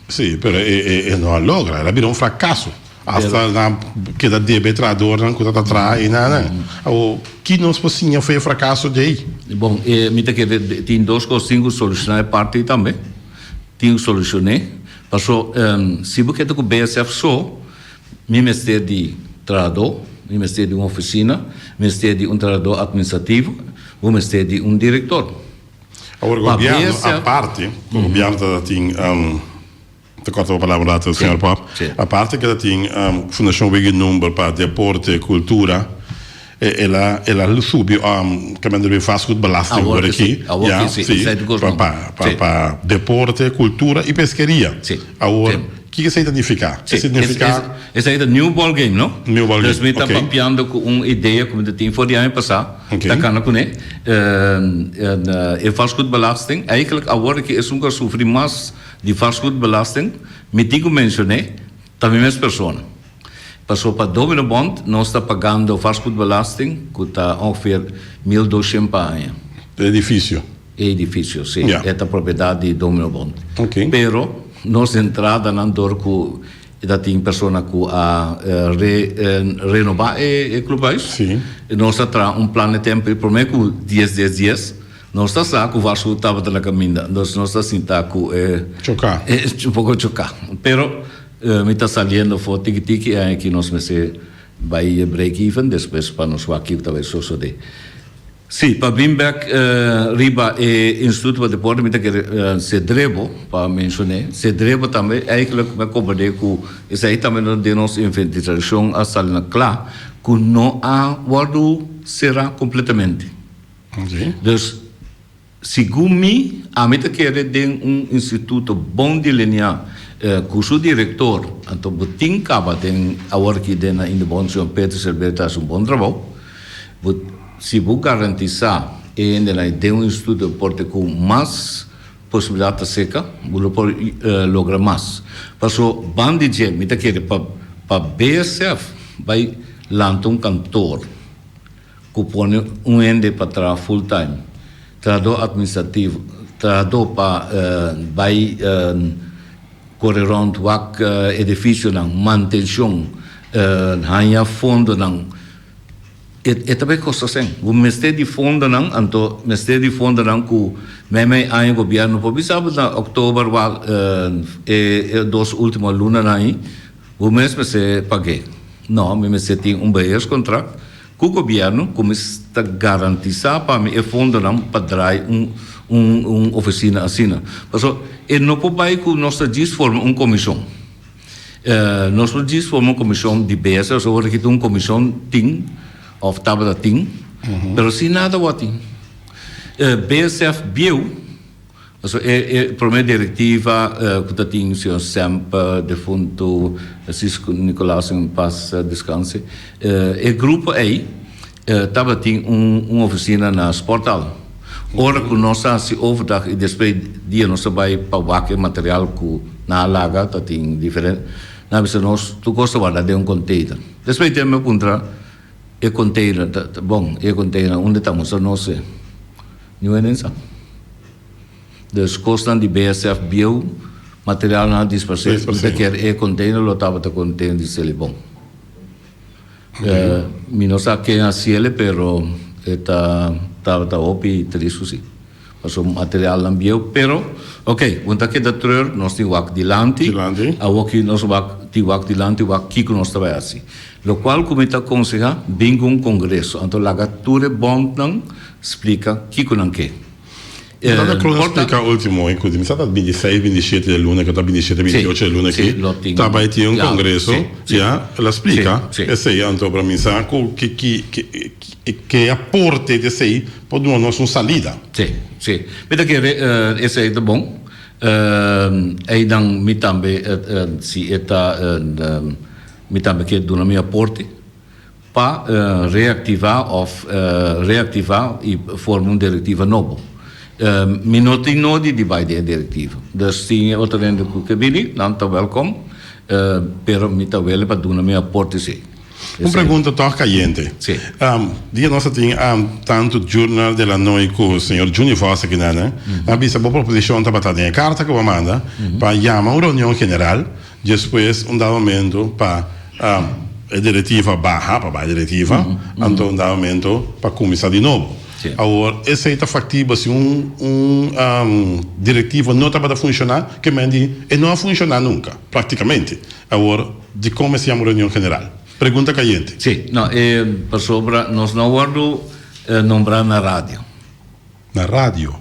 Si, pero e no a logra. El a bira un fracaso. Hasta nan keda debe e trahadornan cu ta ta traha ey na nan. Awo, ki nos por siña for e fracaso dje ey? Bon, mi ta kere, tin dos cos. Tin cu soluciona e parti tambe. Tin cu solucion'e. Paso, si bo keda cu BSF so, Mi mester di trahadó, mi mester di un ofisina, mi mester di un trahadó atministrativo, bo mester di un direktor. Awor gobièrnu aparte ku gobièrnu ta ta tin, ta kòrta bo palabra un rato señor Pop, aparte ke ta tin Fundashon Wegge Number pa deporte, kultura, El a subi caminda riba vastgoed belasting awor aki ya pa deporte cultura y peskeria awor kico esey ta nifica esey ta new ball game no dus mi ta papiando cu un idea cu mi ta tin for di aña pasa ta cana cune e vastgoed belasting eigenlijk awor aki esun cu a sufri mas di vastgoed belasting mi tin cu mencione. Ta mi mes persona. Paso pa Domino Bond nos ta pagando vastgoedbelasting cu ta ongeveer mil doshend pa aña. E edificio? E edificio, si. Ja. E ta propiedad di Domino Bond. Ok. Pero nos entradanan door cu e ta tin persona cu a re renoba e clubhuis. Si. Nos ta traha un plan de tempo, e prome cu dies, dies, dies. Nos ta sa ku Varsovia tabata na kaminda, anto nos ta sinta ku e choká, un poko choká. Pero mi ta saliendo for tiki tiki i aña aki nos mester bai e break even despues pa nos wak kico ta bai sosodé. Sí, pa bin bek riba e Instituto pa Deporte mi ta kere Cedrevo pa menshoné. Cedrevo tambe ai ke loke mi a kombordé ku esei tambe no den nos inventitradishon a sali na kla ku no a wòrdu será kompletamente. Dus, segun mi, ami ta kere den un instituto bon delineá ku su direktor, anto bo tin kaba den awor aki den na Innobontsion Peter Servet ta hasi un bon trabou. Bo, si bo garantisá e hendenan i den un instituto deporte ku mas posibilidat ta seka, bo lo por logra mas. Paso, ban di dje mi ta kere pa pa BSF bai lanta un kantoor. cu pone un hende pa traha full time, trahador administrativo, trahador pa bay core rond wak edificionan, mantencion, hanja fondonan, e ta bay costa sen. Bo mester di fondonan, anto mester di fondonan cu meimei aña gobierno por bisa bo na october wak e dos ultimo lunanan ayi, Bo mes mester pag'é. No, mi mester tin un beheerscontract cu gobierno cu mi ta garantisa pa mi e fondonan pa draai un oficina asina. Pasobra e no por bai cu nos ta djis forma un comision. Nos por djis forma un comision diversa pasobra ora ki tin un comision tin of tabata tin, pero si nada wou a tin. Bsf bieuw. So e e prome direktiva ku ta tin señor Semp, defuntu Sisko Nikolason en pas deskanse. E grupo ei tabatin un un ofisina na sporthal. Ora ku nos ta hasi overdag i despues dia nos ta bai pa wak e material ku nan a laga ta tin diferente. Nan a bisa nos tur kos ta warda den un container. Despues tem mi a puntra e container ta bon i e container unda ta musa nos e. New Orleans a. Dus kosnan di BSF bieu materialnan a disparsé. Mi ta kier e container lo tabata contain di selibon. Mi no sa ken a siele pero e ta tabata hopi tris cu si. Paso materialnan bieu pero ok un ta keda treur nos tin wak dilanti. Dilanti. Awoki nos wak tin wak dilanti wak kico nos ta bay haci. Locual cu mi ta aconseha bin cu un congreso, anto laga tur e bondnan splica kico nan ke. Mi ta ta clos splica ultimo hoy cu di mi sa ta bindi seis, bindi shete di luna, cu ta bindi shete, bindi ocho di luna aki, ta bay tin un congreso, ya, el a splica esey, anto para mi sa cu ki, ki, ki, ke aporte di esey por duna nos un salida. Si, si, mi ta kere esey ta bon, eynan mi tambe, si e ta. Mi tambe kier duna mi aporte pa reactiva of reactiva y forma un directiva nobo. Mi no tin nodi di bay den e directiva. Dus si e otro rende cu kier bibi, nan ta welcom, pero mi ta wele pa duna mi aporte esey. Un pregunta toch cayente. Si. Dia nos a tin tanto Journal de la Noy cu señor Juni Vos aki nana. Mi a bisa bo proposicion tabata den e carta cu bo a manda pa yama un reunion general. Despues un dado momento pa e directiva baha, pa bay directiva, anto un dado momento pa cuminsa di nobo. Awor esey ta factibel si un un directiva no tabata funciona, ke men di e no a funciona nunca, practicamente. Awor di con mester yama reunion general? Pregunta cayente. Si, no, e pasobra nos no a wordo nombra na radio. Na radio.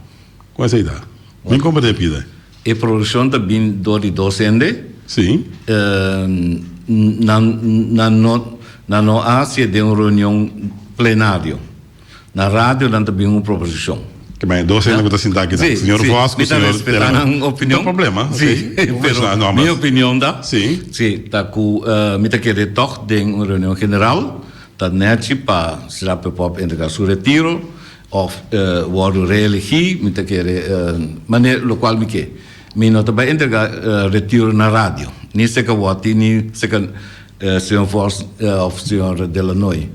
Kon esei ta? Min komprende e pida. E produkshon ta bini dor di dos hende. Si. Nan nan no nan no a hasié den un reunion plenario. Na radio nan ta bini un proposishon. Oke, ma e dos hende ku ta sintá akinan. Si, si. Señor Vos ku señor Tello. Mi ta respetá nan opinion. No problema. Ok. Si. Pero. Por menshona nombres. Mi opinion ta. Si. Si, ta ku mi ta kere tòg den un reunion general ta nèchi pa Sirá Pepòp entregá su retiro Of wordo reelegi, mi ta kere maner lokual mi ke. Mi no ta bai entrega retiro na radio, ni seka Woti ni seka señor Vos of señor Delanoy.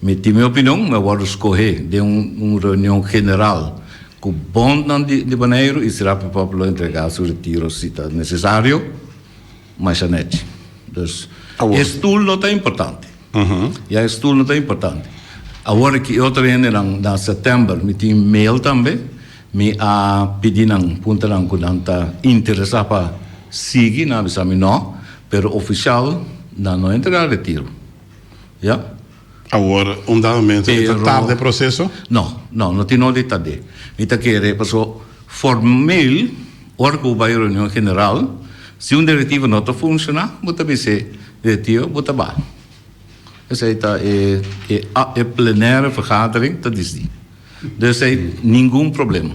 Mi tin mi opinion, mi a wordo skohe den un reunion general ku bondnan di Boneiru i sera mi papia lo entrega su retiro si ta nesesario, masha nèchi. Dus e stul no ta importante. Ya es turno ta importante. Awor ki e otro hendenan na September mi tin mail tambe, mi a pidi nan, punta nan cu nan ta interesa pa sigui, nan a bisa mi no, pero oficial nan no a entrega retiro. Ya. Awor, un dado mento, e ta tarde e proceso? No, no, no tin no di tardé. Mi ta kere, paso formeel, ora cu bo bay reunion general, si un directivo no ta funciona, bo ta bis'é, E tio bo ta baha. Esei ta e e plenaire vergadering ta disdi. Do esei ningun problema.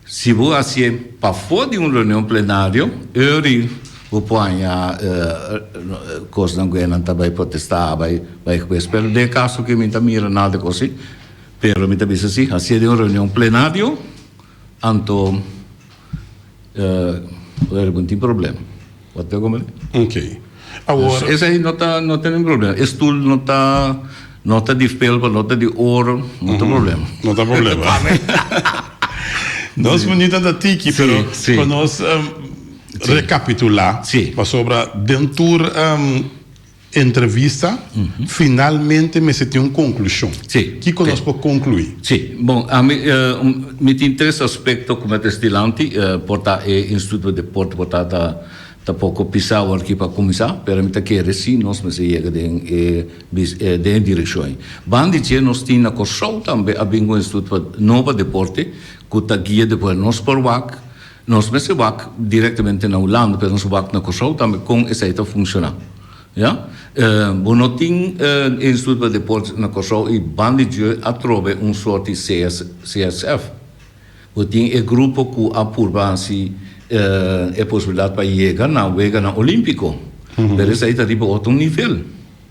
Si bo hacié pafó di un reunion plenario, euri bo por haña cosnan cu enan ta bay protesta, bay bay hues. Pero den e caso cu mi ta mira nada de cos si, pero mi ta bisa si, hacié den un reunion plenario, Anto Rogelio bo tin problem. Bo ta come? Ok. Awor. Esa ahí no ta no ta nin problem. E stoel no ta no ta di felpa, no ta di oro, no ta problem. No ta problem. Nos munita ta tiki, pero sí, sí. con nos um, sí. recapitula, sí. pasobra den tur um, Entrevista, Finalmente mester tin un conclusion. Sí. Kico nos por conclui? Sí. Bon, ami, mi tin tres aspecto cu mi a trae dilanti, por ta e Instituto de Deporte por ta, ta, ta poco pisa awor aki pa cuminsa, pero mi ta kere si nos mester yega den e bis, den e direccion ei. Ban di dje nos tin na Kòrsou tambe a bini cu un instituto pa, no pa deporte, cu ta guia deporte nos por wak, Nos mester wak directamente na Hulanda, pero nos wak na Curaçao tambe con esai ta funciona. Ya. Bo no tin e Instituto pa Deportes na Curaçao y ban di djue atrobe un sorti CSF. Bo tin e grupo cu a purba haci e posibilidad pa yega na weganan Olimpico, pero esai ta riba otro nivel.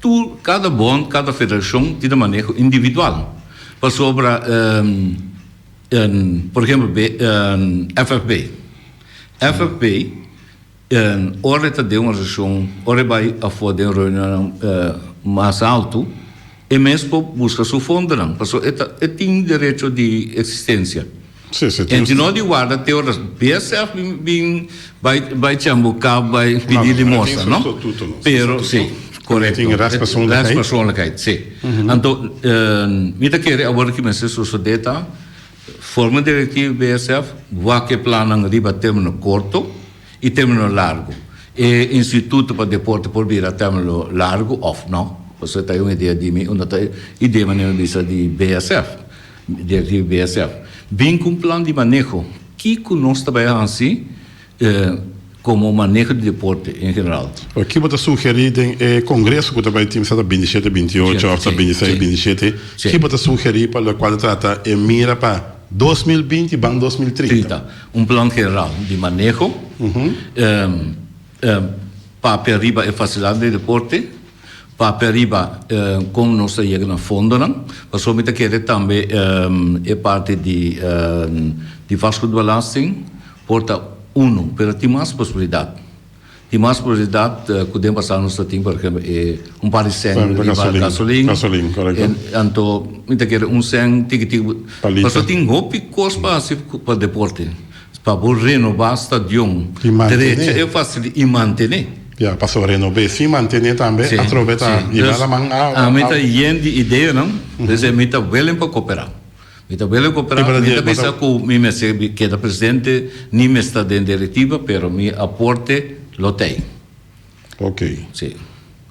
Tur, kada bond, kada federashon tin e maneho individual. Pasobra, por ehempel be, FFB. FFB, ora e ta den un organisashon, ora e bai afó den reunionnan mas altu, e mes por buska su fondonan, pasobra e ta, e tin derecho di eksistensia. E di no di warda te ora bia sèf bin bai bai tjèn bo kap bai pidi limosa no pero si korekto rèst pèrsonlikheid si anto mi ta kere awor ki mester sosodé ta forma direktivo di bsf wak e plannan riba término korto i término largu e instituto pa deporte por bira término largu òf no pasobra ta un idea di mi unda ta idea manera mi bisa di bsf. Derive esef. Bin ku un plan di maneho kiko nos ta bai hasi komo maneho di deporte en general. Ki bo ta sugerí den e kongreso ku ta bai tin bisata bintisiete, bintiocho afta bintiseis, bintisiete? Ki bo ta sugerí pa lokual ta trata e mira pa dos mil binti ban dos mil trinta? Trinta. Un plan general di maneho, papia riba e fasilidad di deporte, Papia riba con nos ta yega na fondonan, pasobra mi ta kere tambe e parti di vastgoedbelasting por ta uno, pero tin mas posibilidad. Tin mas posibilidad cu den pasado nos ta tin, por ehemplo, e un par di seng riba gasolin, anto mi ta kere un seng tiki tiki, pasobra tin hopi cos pa haci pa deporte. Pa bo renobá stadion. I mantené. I mantené. Ya, pasobra renob'é sin mantené tambe atrobe ta yega laman a. Dus, ami ta yen di ideanan, dus mi ta willing pa koperá. Mi ta willing koperá, mi ta bisa ku mi mester keda presidente, ni mester den direktiva, pero mi aporte lo t'ei. Ok. Sí.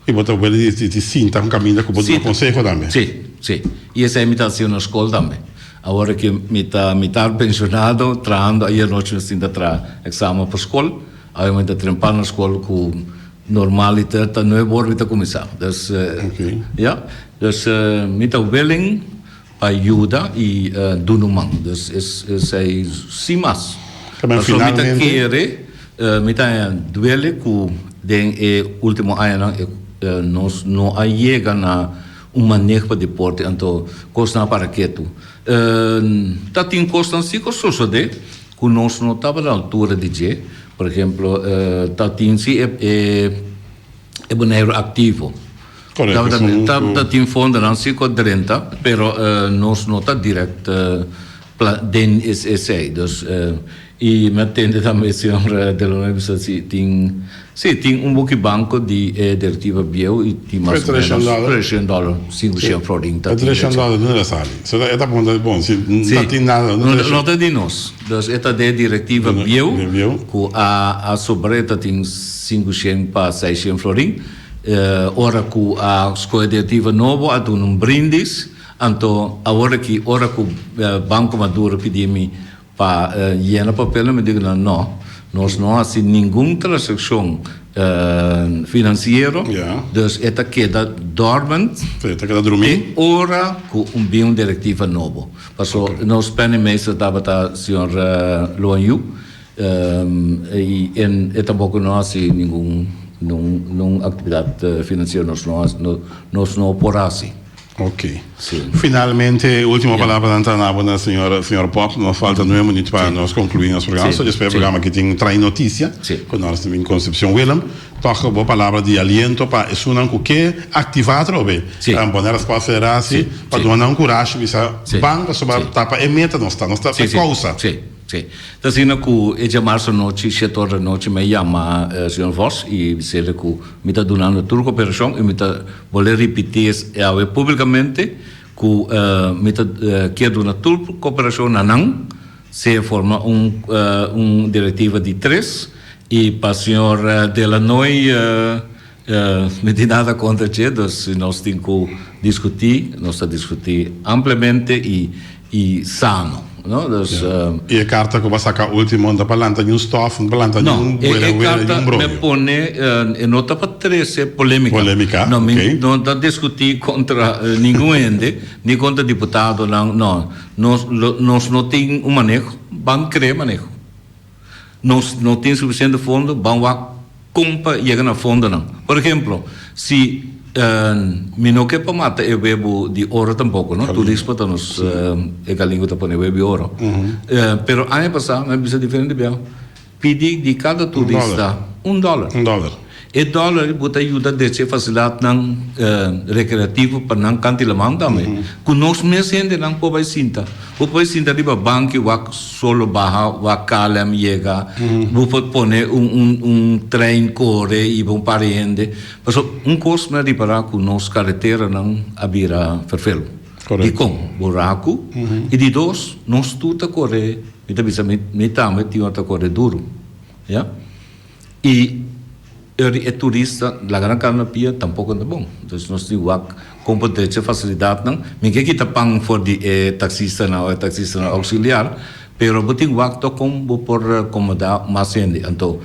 Y bo ta wele di, di, di sinta un caminda cu bo duna Sinta. conseho tambe. Sí, sí. Y esei mi ta haciu na scol tambe. Awor cu mi ta, mi ta pensionado, trahando, ayer nochi mi sinta traha examen pa scol, awe mi ta trempa na scol cu normaliter ta nuebe ora mi ta cuminsa. Dus, Ok. ja, dus, mi ta welen. A yuda y dunu man. Dus esey si mas. Pasobra mi ta kere, mi ta duele cu den e ultimo añanan nos no a yega na un maneg pa deporte, anto cosnan a para ketu. Ta tin cosnan si cu a sosode cu nos no tabata altura di dje. Por ehemplo, ta tin si e boneiro activo. Correcto. Ta tin fondonan si cu a drenta, pero nos no ta direct den esey. Dus y mi a tende tambe e señora De Luna a bisa si tin, si tin un buki banco di e directiva bieu y tin mas o menos trescion dollar sin cu shea Florlin ta tin. Pero trescion dollar done ta sali? So e ta bon ta bon si no tin nada. No ta di nos. Dus e ta den directiva bieu cu a a sobra e ta tin sin cu shea pa seis shea Florlin. Ora ku a skohe diativa nobo a duna un brindis, anto awor aki ora ku Banko Maduro pidi mi pa yena papelnan mi diku nan, no, nos no hasi ningun transakshon finansiero, dus e ta keda dormant te ora ku bin un direktiva nobo. Paso nos prèmè minister tabata señor Loan Yu. I e tampoco no haci ningun actividad financiero nos no haci, nos no por haci. Ok. Si. Finalmente e ultimo palabranan ta na bo na señor Pop. Nos falta nuwe munit pa nos conclui nos programa. Si. Si. Despues e programa aki tin trae noticia Si. cu nos ta bin Concepcion. Willem, tok bo palabra di aliento pa esunnan cu ke activa atrobe. Si. Ta bon e Raspall Federatie pa duna nan curashi bisa ban pasobra ta pa e meta nos ta. Nos ta pa e causa. Si. Sí. Ta asina ku e jamarse anochi shete ora di anochi mi a yama señor Vos i bisele ku mi ta dunando tur koperashon i mi ta bolé ripití es e awe públikamente ku mi ta kier duna tur koperashon na nan sea forma un un direktiva di tres i pa señor Dela Noi Mi tin nada kontra dje, dus si nos tin ku diskutí, nos ta diskutí ampliamente i i sano, no. Dus, I e karta ku bo a saka último no ta pa lanta niun stòf, no ta pa lanta niun wera wera, niun bromi. No, e karta mi a pone e no ta pa trese polémika. Polémika, ok. No, mi no ta diskutí kontra ningun hende, ni kontra diputadonan, no. Nos, nos no tin un maneho, ban kree maneho. Nos no tin suficiente fondo, ban wak con pa yega na fondonan. Por ejemplo, si mi no ke pa mata e webo di oro tampoco, no? Tu rispa ta nos e galin cu ta pone webo di oro. Pero aña pasa mi a bisa diferente biaha, pidi di cada turista un dollar. E dòler bo ta yuda desha e fasilatnan rekreativo pa nan kan di laman tambe. Ku nos mes hendenan por bai sinta. Bo por bai sinta riba banki wak solo baha, wak KLM yega, bo por pone un trein kore i bo un par di hende. Pasobra un kos mi a ripará ku nos kareteranan a bira ferfelu. Dikon? Buraku i di dos nos tur ta kore, mi ta bisa mi tambe tin ora ta kore duru. Y eri e turista laga nan carro na pia tampoco no ta bon. Entonces nos tin wak con por drecha e facilidadnan. Mi ke kita pan for di e taxistanan o e taxistanan auxiliar, pero bo tin wak tok con bo por comoda mas hende. Anto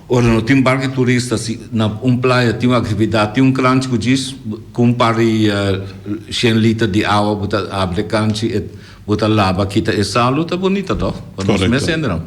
ora no tin barco di turista, si na un playa tin un actividad, tin un cranchi cu djis, cu un par di shen liter di awa bo ta abri e cranchi, bo ta laba, kita e sal, lo ta bonita, toh? Con nos mes hendenan.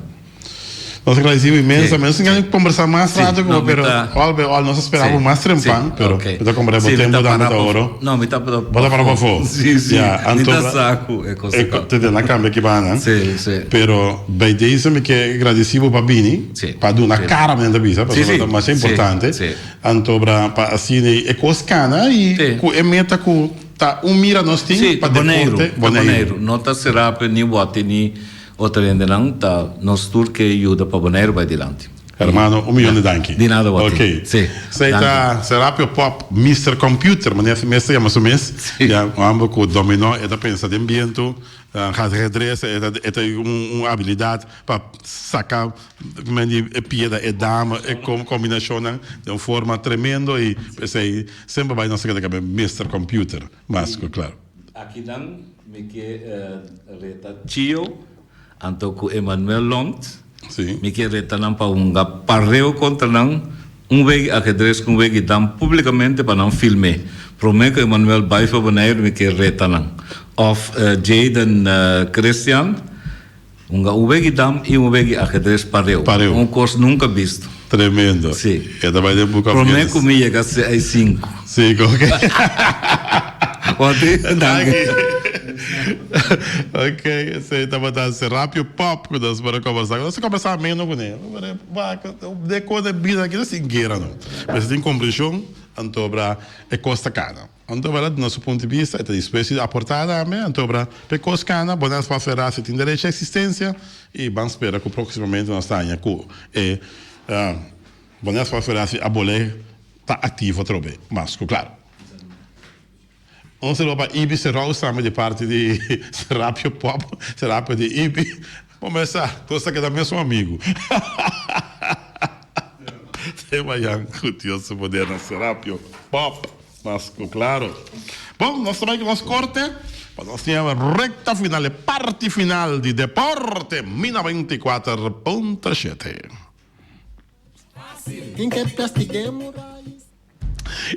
Nos agradecibo inmenso. Nos tin ganas conversa mas rato con pero all be all nos espera por mas trempan pero bota compra bo tempo dan bota oro. No, mi ta para Bota para pa fo. Sí, sí. Ja, Mi ta anto saku e cosa. Eko te den a cambia ki bana. Sí, sí. Pero bij deze mi ke agradecibo pa bini, Sí. pa duna Sí. cara men ta bisa, Sí, pasobra sí. ta masha Sí, importante. sí. Anto bra pa asine e cos cana y Sí. cu e meta cu ta un mira nos tin Sí, pa ta Boneiru, deporte ta Boneiru. No ta cerá pe ni wòte ni Otro hendenan ta nos tur ke yuda pa Boneiru bai dilanti. Hermano, un miyon di danki. Di nada wak. Ok. Si. So ei ta Serapio Pop, Mister Computer, manera así mes ta yama su mes. Si. Ya, un homber cu dominó, e ta pensa den biento, a haci redresa, e ta e ta un habilidad pa saca men di e piedra, e dama, e com combinacionnan den un forma tremendo y p'esei semper bai nos ta keda caba Mister Computer. mas ku klar. Aki nan mi ke reta Chio anto ku Emmanuel Lont. Mi ke reta nan pa hunga pareo kontra nan un wegi akedres ku un wegi dan publikamente pa nan film'é. Prome ku Emmanuel bai for Boneiru mi ke reta nan. Òf Jaden Christian. Un gauwegi dam i un wegi ajedres pareu. Pareu. Un kos nunka bisto. Tremendo. Sí. E ta bai den buka Prome Guinness. ku mi yega se ai sinku. Sinku, ok. Wati? Danki. ok, esei tabata si Rapio Pop ku nos por a kombersá. Ku nos a kombersá meno ku ne. Deko nan bira aki no sin guera no. Pero si tin kompreshon anto obra e kos ta kana. Anto bra duna su punto di bista e ta dispuesto di aporta tambe, anto bra pe cos cana bo nas considera si tin derecho a existencia y ban spera cu proximamente nos ta haña cu e bo nas considera si abole ta activo otro be mas cu claro. Un saludo pa Ibi Serous tambe di parti di Serapio Pop, Serapio di Ibi. Bo mester nos ta keda mesun amigu. Tema Jan ku Dios su poder na Serapio Pop mas ku klaro. Bon, nos ta bai ku nos korte pa nos tin e rekta final, e parti final di deporte Mina beinti kuater punto shete.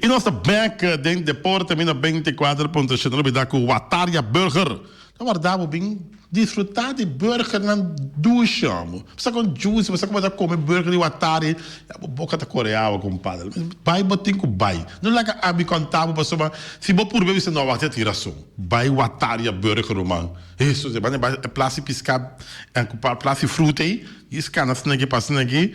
I nos ta bek den deporte mi na beinticuater punto siete lo bida cu Wataria Burger. Ta warda bo bin disfruta di burgernan dushi amo. Pasa con juicy bo sa como ta come burger di Watari ya bo boca ta core awa compadre. Bay bo tin cu bay. No laga ami conta bo pasobra si bo purbe bisa no a wak si a tin razon. Bay Wataria Burger lo man. Hesus e banda e bay e placi pisca cu par placi fruta ey y scana snegi pa snegi.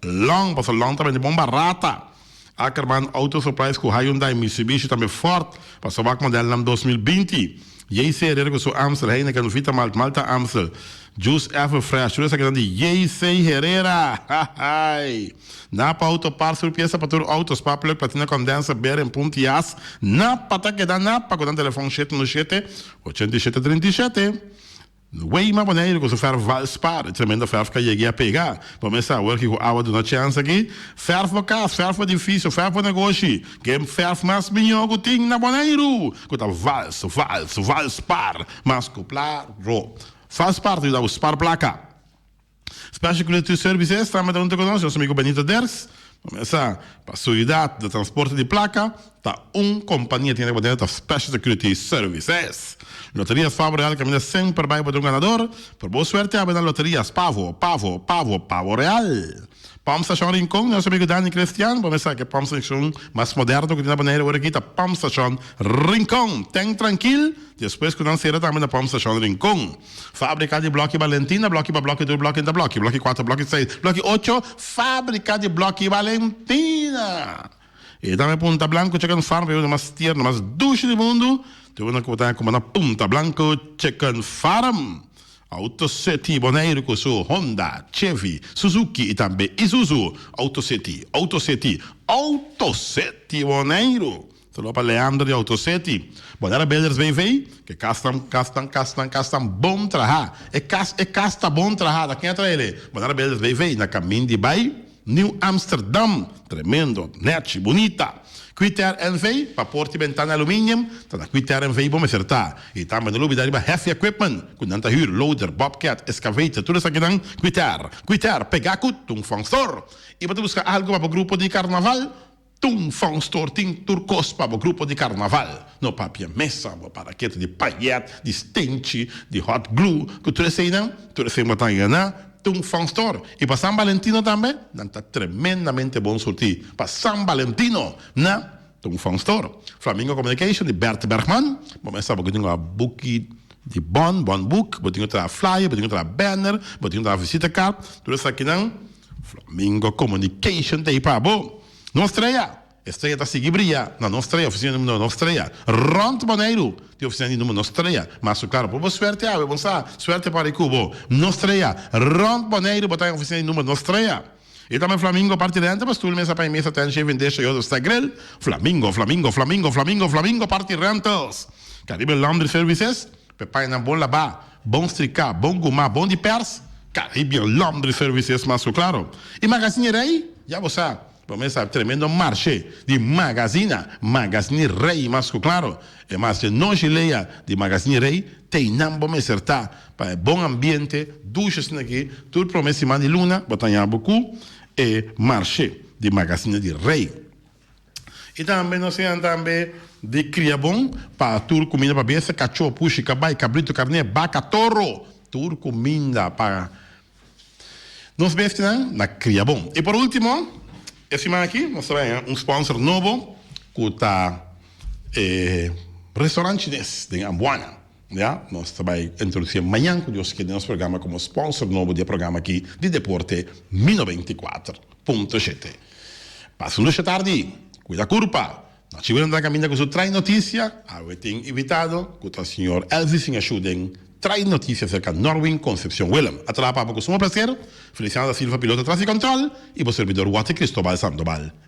Long, paso Long ta bende bon barata. Ackerman Auto Supplies cu Hyundai, Mitsubishi tambe Ford pa su wak modelnan dos mil binti. JC Herrera cu su Amstel, Heineken, Vita Malt, Malta Amstel, Juice Ever Fresh, tur esakinan di JC Herrera! Hahaai! Napa Auto Parts, tur piesa pa tur auto, spark plug, platina condenser, bearing, pump, tias. Napa ta keda Napa cu nan telefon shete unu shete, ochenta i shete, trinta i shete. Weima Boneiru ku su ferf Valspar, tremendo ferf ka yegi a pega. Bo mester awor ki ku awa duna chèns aki. Ferf bo kas, ferf bo edifisio, ferf bo negoshi, ke ferf mas mihó ku tin na Boneiru ku ta Vals, Vals, Valspar, mas ku pla ro. Valspar ta yuda bo spar plaka. Special Community Services tambe ta un toco nos, nos amigo Benito Ders ta mesa pa seguridad di transporte di placa ta un compania tin riba deo ta Special Security Services. Loteria Spavo Real caminda semper bay pa ta un ganador, pero bo suerte a bay na Loteria Spavo, Pavo, Pavo, Pavo Real. Pump Station Rincon di nos amigo Danny Christian, bo mesa ke pump station mas moderno cu tin na Bonaire ora aki ta Pump Station Rincon. Ten trankil, despues cu nan cera tambe na Pump Station Rincon. Fábrika di blòkì Balentina blòkì pa blòkì tur blòkì enta blòkì blòkì kuater blòkì seis blòkì ocho Fábrika di blòkì Balentina E ta mi punta blanku chicken farm e unda mas tierno mas dushi di mundu tur unda ku bo ta haña kuma na punta blanku chicken farm Auto City Boneiru ku su Honda Chevy Suzuki i tambe Isuzu Auto City Auto City Auto City Boneiru. Tropa Leander di Autocity. Bodega Builders BV, ke kas tan kas tan kas tan kas tan bon traha. E kas e kas ta bon traha, ta ken a trael e? Bodega Builders BV na kamin di bai New Amsterdam, tremendo, nèchi, bunita. Kwiter NV, pa porta i bentana e aluminium, ta na Kwiter NV bo mester ta. I tambe no lo olbida riba heavy equipment ku nan ta hür, loader, bobcat, excavator, tur esakinan Kwiter. Kwiter pega ku Tungtvang Store. I bo ta buska algu pa bo grupo di karnaval? Tun Faunstor tin tur kos pa bo grupo di karnaval. No papia mesa, bo paraket di payèt, di stenchi, di hot glue, ku tur eseinan, tur esei bo ta haya na Tun Faunstor. I pa San Balentino tambe, nan ta tremendamente bon surti pa San Balentino na Tun Faunstor. Flamingo Communication di Bert Bergman, bo mester bo gringa buki Di bon, bon boek, bo tin cu traha flyer, bo tin cu traha banner, bo tin cu traha visitakaart, tur esakinan, Flamingo Communication ta ahi pa bo. Nos strea, e strea ta sigui bria, na nos strea, oficina di numero nos strea. Rond Boneiru tin oficina di numero nos strea, mas su claro pa bo suerte awe, bon sa, suerte para e cubo. Nos strea, rond Boneiru bo ta den oficina di numero nos strea. E ta men Flamingo parti renta pa stoel mesa pa e mesa ten shaving dish e otro sta grill Flamingo Flamingo Flamingo Flamingo Flamingo parti rentals Caribe Laundry Services pe painan bon labá bon strika bon guma bon di pers Caribbean Laundry Services mas ku klaro i Magazini Rei ya bo sa bo mesa tremendo marshe di magazina Magazini Rei mas ku klaro e marshe noshi leya di Magazini Rei teinan bo meser ta Pa e bon ambiente, dusha asina ki tur prome siman di luna bo ta yabu ku e marshe di Magasine di Rei. I tambe nos sinan tambe di kria bon pa tur kuminda pa besta, kachó, pushi, kabai, kabritu, karné, baka, toro, tur kuminda pa nos bestinan na kria bon. I por ultimo, e siman aki nos ta bira un sponsor nobo ku ta e restaurant chines den Ambuana. Ya, nos ta bai introduci'e mañan cu Dios kier den nos programa como sponsor nobo di e programa aki di deporte Mi Noventa i Kuater Punto Shete. Pas lusha tardi, cuida curpa! Na chivo nan ta caminda cu su Trae Noticia. Awe tin invitado cu ta Señor Elvis Singashou den Trae Noticia acerca Norwin Concepcion Willem. A traha papel cu suma placer, Feliciano da Silva piloto atrás di control y bo servidor Waty Cristobal Sandoval.